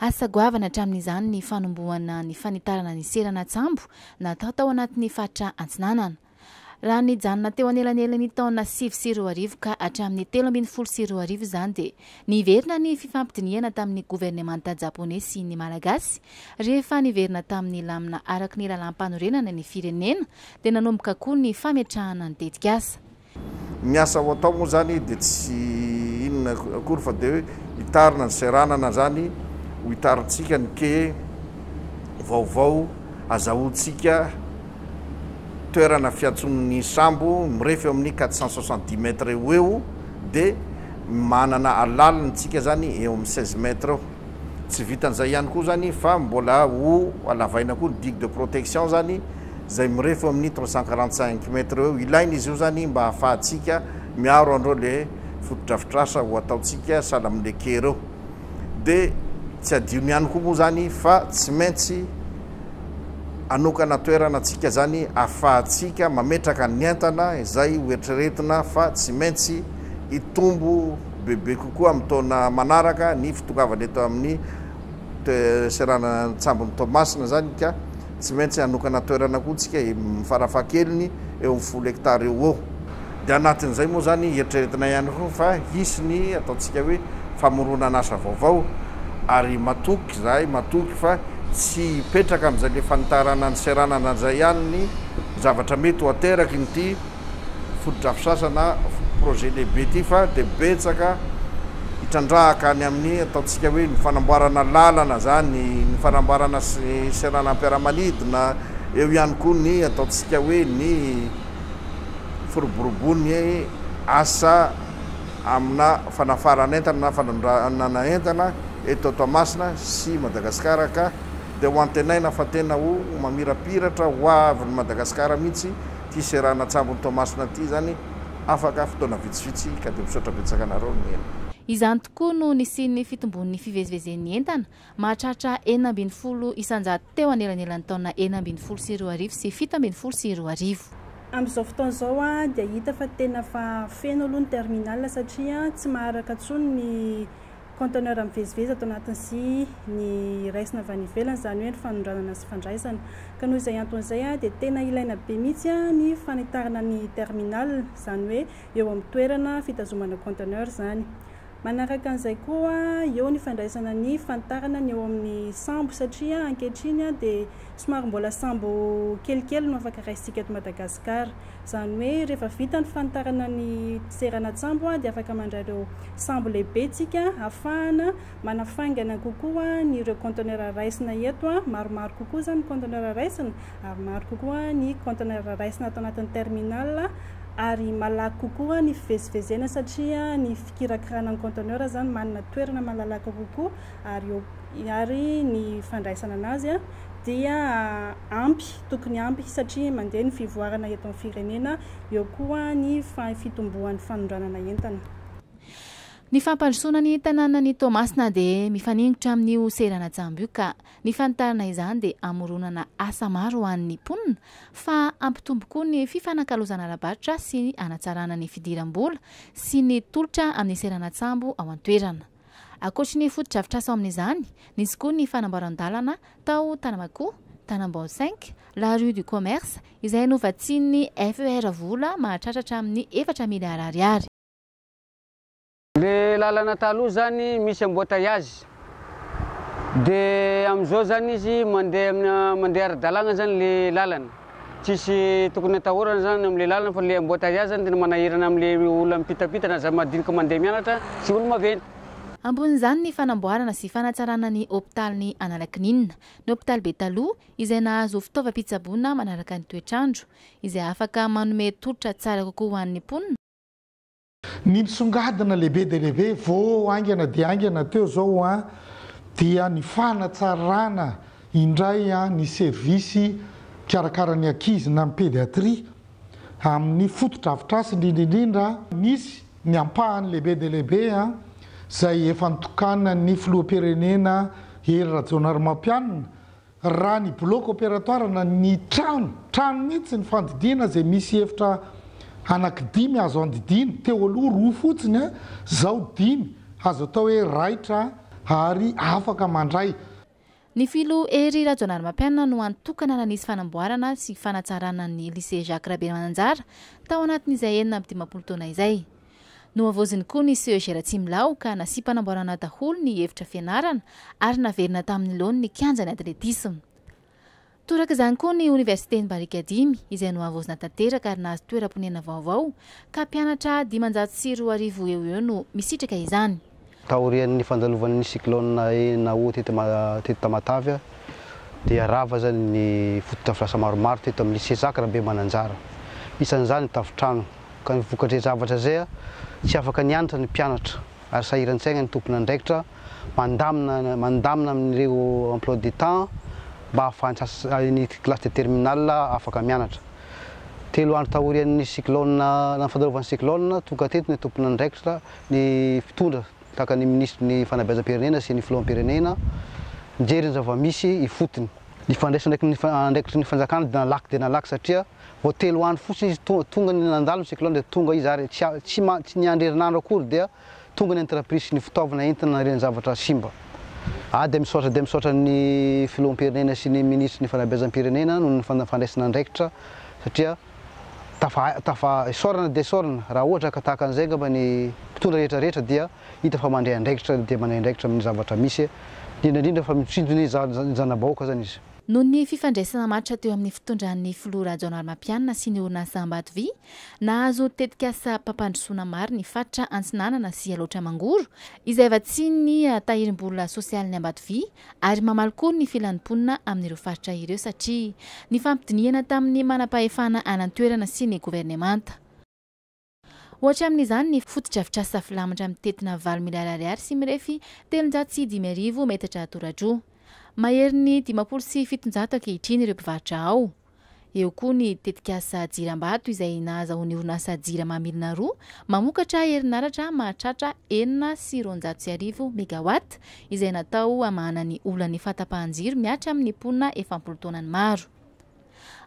Asa goavana hatramin'izany ny fanombohana ny fanitarana ny seranan-tsambo natao tao anatin'ny faritra Antsinanana. Raha nijanona teo anelanelan'ny taona sivy sy roa arivo ka hatramin'ny telo ambin'ny folo sy roa arivo izany dia niverina ny fifampidinihana tamin'ny governemanta Japoney sy ny Malagasy. Rehefa niverina tamin'ny lamina araky ny lalàm-panorenana ny firenena dia nanomboka koa ny fametrahana ny tetikasa. Ny asa ho atao moa izany dia tsy inona akory fa dia hoe hitarina ny seranana izany ho hitarintsika ny quai vaovao hazahoantsika toerana fiantsonan'ny sambo mirefy eo amin'ny quatre cent soixante dix mètres eo ho eo dia manana alaliny tsika izany eo amin'ny seize mètres eo. Tsy vitan'izay ihany koa izany fa mbola ho alavaina koa ny digue de protection izany izay mirefy eo amin'ny trois cent quarante cinq mètres eo. Ilaina izy io izany mba hahafahantsika miaro an'ireo ilay fotodrafitrasa ho ataontsika sahala amin'ilay quai ireo. Dia tsy adino ihany koa moa izany fa tsy maintsy hanokana toerana antsika izany ahafahantsika mametraka ny entana izay hoeritreretina fa tsy maintsy hitombo bebe kokoa amin'ny taona manaraka ny fitongavany eto amin'ny seranan-tsambon'i Toamasina izany ka tsy maintsy hanokana toerana koa isika farafahakeliny eo amin'ny folo hekitara eo ho eo. Dia anatin'izay moa izany eritreretina ihany koa fa hisy ny ataontsika hoe famoronan'asa vaovao ary matoky izahay, matoky fa tsy hipetraka amin'izay le fanitarana ny seranana izay ihany ny zavatra mety ho aterakin'ity fotodrafitrasa na projet lehibe ity fa dia betsaka hitrandrahaka any amin'ny ataontsika hoe ny fanamboarana lalana zany, ny fanamboarana seranam-piaramanidina, eo ihany koa ny ataontsika hoe ny firoborobon'ny asa amina fanafarana entana na fanondranana entana eto Toamasina sy Madagasikara ka dia ho antenaina fa tena ho mamirapiratra ho avin'i Madagasikara mihitsy Ity seranana an-tsambon'i Toamasina ity izany afaka fotoana vitsivitsy ka dia misaotra betsaka anareo nihaino. Izany tokoa no nisian'ny fitombon'ny fivezivezen'ny entana, mahatratra enina ambin'ny folo isan-jato teo anelanelan'ny taona enina ambin'ny folo sy roa arivo sy fito ambin'ny folo sy roa arivo. Amin'izao fotoana izao dia hita fa tena efa feno aloha ny terminal satria tsy maharaka intsony ny conteneurs mivezivezy ato anatiny sy ny raisina avy any ivelany, izany hoe ny fanondranana sy fandraisana. Ka noho izay antony izay dia tena ilaina be mihitsy ny fanitarana ny terminal, izany hoe eo amin'ny toerana fitazomana conteneurs izany. Manaraka an'izay koa eo ny fandraisana ny fanitarana ny eo amin'ny sambo satria ankehitriny dia somary mbola sambo kelikely no afaka raisintsika eto Madagasikara. Izany hoe rehefa vita ny fanitarana ny seranan-tsambo dia afaka mandray ireo sambo lehibe isika hahafahana manafaingana kokoa ny ireo conteneurs raisina eto. Maromaro kokoa izany ny conteneurs raisina ary maro kokoa ny conteneurs raisina ato anatin'ny terminal ary malaky kokoa ny fivezivezena satria ny fikirakirana ny conteneurs izany manana toerana malalaka kokoa ary eo ary ny fandraisana anazy dia ampy, tokony ampy satria mandeha ny fivoarana eto amin'ny firenena, eo koa ny fitomboan'ny fanondranana entana. Ny fampandrosoana ny tanànan'i Toamasina dia mifaningotra amin'io seranan-tsambo io ka ny fanitarana izany dia hamoronana asa maro ho an'ny mponina fa hampitombo koa ny fifanakalozana ara-barotra sy hanatsarana ny fidiram-bola sy ny tolotra amin'ny seranan-tsambo ao an-toerana. Ankoatry ny fotodrafitrasa ao amin'izany, nisy koa ny fanamboaran-dalana tao Tanamakoa, Tanambao cinq, la rue du Commerce, izay novatsian'ny FER vola mahatratra hatramin'ny efatra miliara ariary. Le lalana taloha zany misy embouteillage de amizao zany izy mandeha amina mandeha ara-dalagna zany le lalana. Tsisy tokony atahorana zany amle lalana fa le embotaiazy zany tena manahirana amle olona mipitapita na za madinika mandeha mianatra sy olo maventy. Ambonin'izany ny fanamboarana sy fanatsarana ny hopitalin'i Analakininina, ny hopitaly be taloha izay nahazo fitaovam-pitsaboana manaraka ny toetr'andro, izay afaka manome tolotra tsara kokoa ho an'ny mponina, Ny misongadina lehibe dia lehibe vô haingana dia haingana teo izao an, dia ny fanatsarana indray ny service mikarakara ny ankizy na ny pédiatrie amin'ny fotodrafitrasa indrindra indrindra, misy ny ampahany lehibe dia lehibe izay efa notokanan'ny filoham-pirenena Hery Rajaonarimampianina, Raha ny bloc opératoire na ny trano, trano mihitsy ny fandidiana izay misy efitra anaky dimy azo andidiana, teo aloha roa fotsiny an, izao dimy, azo atao hoe raitra ary afaka mandray. Ny Filoha Hery Rajaonarimampianina no antokana nanisy fanamboarana sy fanatsarana ny Lycée Jacques Rabemananjara tao anatin'izay enina amby dimampolo taona izay. Nohavaoziny koa ny CEG Ratsimilaho ka nasiam-panamboarana daholo ny efitra fianarana ary naverina tamin'ny laoniny ny kianjan'ny atletisma. Toraka izany koa ny Oniversiten'i Barikadimy izay nohavaozina tanteraka ary nahazo toeram-ponenana vaovao ka mpianatra dimanjato sy roa arivo eo ho eo no misitraka izany. Taorian'ny fandalovan'ny cyclone Enao teto Tamatave dia rava izany ny fotodrafitrasa maromaro teto amin'ny Lycée Jacques Rabemananjara, isan'izany ny tafontrano, ka ny vokatr'izay zavatra izay, tsy afaka nianatra ny mpianatra ary sahiran-tsaina ny tompon'andraikitra mandamina mandamina amin'ireo emploi du temps mba hahafahan'ny classe de terminale afaka mianatra. Telo andro taorian'ny cyclone fandalovan'ny cyclone, tonga teto ny tompon'andraikitra ny mpitondra tahaka ny minisitry ny fanabeazam-pirenena sy ny filoham-pirenena mijery ny zava-misy ifotony. Ny fandraisana andraikitry ny fanjakana dia nalaky dia nalaky satria vao telo andro fotsiny izy tonga ny nandalo ny cyclone dia tonga izy ary tsy tsy niandry herinandro akory dia tonga ny entreprise sy ny fitaovana entina nariany ny zavatra simba. Aho dia misaotra dia misaotra ny filoham-pirenena sy ny minisitry ny fanabeazam-pirenena noho ny fandraisana andraikitra satria Tafa tafa isaorana dia isaorana raha ohatra ka tahaka an'izay angamba ny mpitondra rehetra rehetra dia hita fa mandray andraikitra dia mandray andraikitra amin'ny zavatra misy indrindra indrindra fa mitsindry ny zana-bahoaka izany izy. Noho ny fifandraisana matotra teo amin'ny fitondran'ny filoha Rajaonarimampianina sy ny orinasa Ambatovy, nahazo tetikasam-pampandrosoana maro ny faritra Antsinanana sy Alaotra Mangoro, izay vatsian'ny Tahirimbola Sosialin'ny Ambatovy ary mamaly koa ny filan'ny mponina amin'ireo faritra ireo satria nifampidinihana tamin'ny manampahefana any an-toerana sy ny governemanta. Ohatra amin'izany ny fotodrafitrasa filamatra mitentina valo miliara ariary sy mirefy telonjato sy dimy arivo metatra tora-droa. Maherin'ny dimampolo sy fitonjato ankehitriny ireo mpivarotra ao. Eo koa ny tetikasa Jirambato izay nahazahoan'ny orinasa Jirama Milina roa mamokatra herinaratra mahatratra enina sy roanjato sy arivo megawatt izay natao hamahana ny olan'ny fahatapahan-jiro mihatra amin'ny mponina efampolo taonany maro.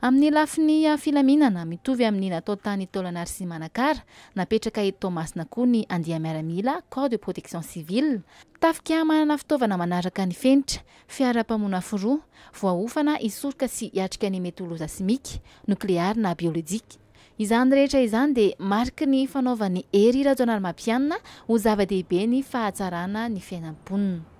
Amin'ny lafiny filaminana, mitovy amin'ny natao tany Taolagnary sy Manakara, napetraka eto Toamasina koa ny andiam-miaramila, corps de protection civile, tafika manana fitaovana manaraka ny fenitra, Fiara mpamonafo roa, voaofana hisoroka sy hiatrika ny mety ho loza simika, nokleary na biolojika. Izany rehetra izany dia mariky ny fanaovan'i Hery Rajaonarimampianina ho zava-dehibe ny fahatsarana ny fiainam-ponina.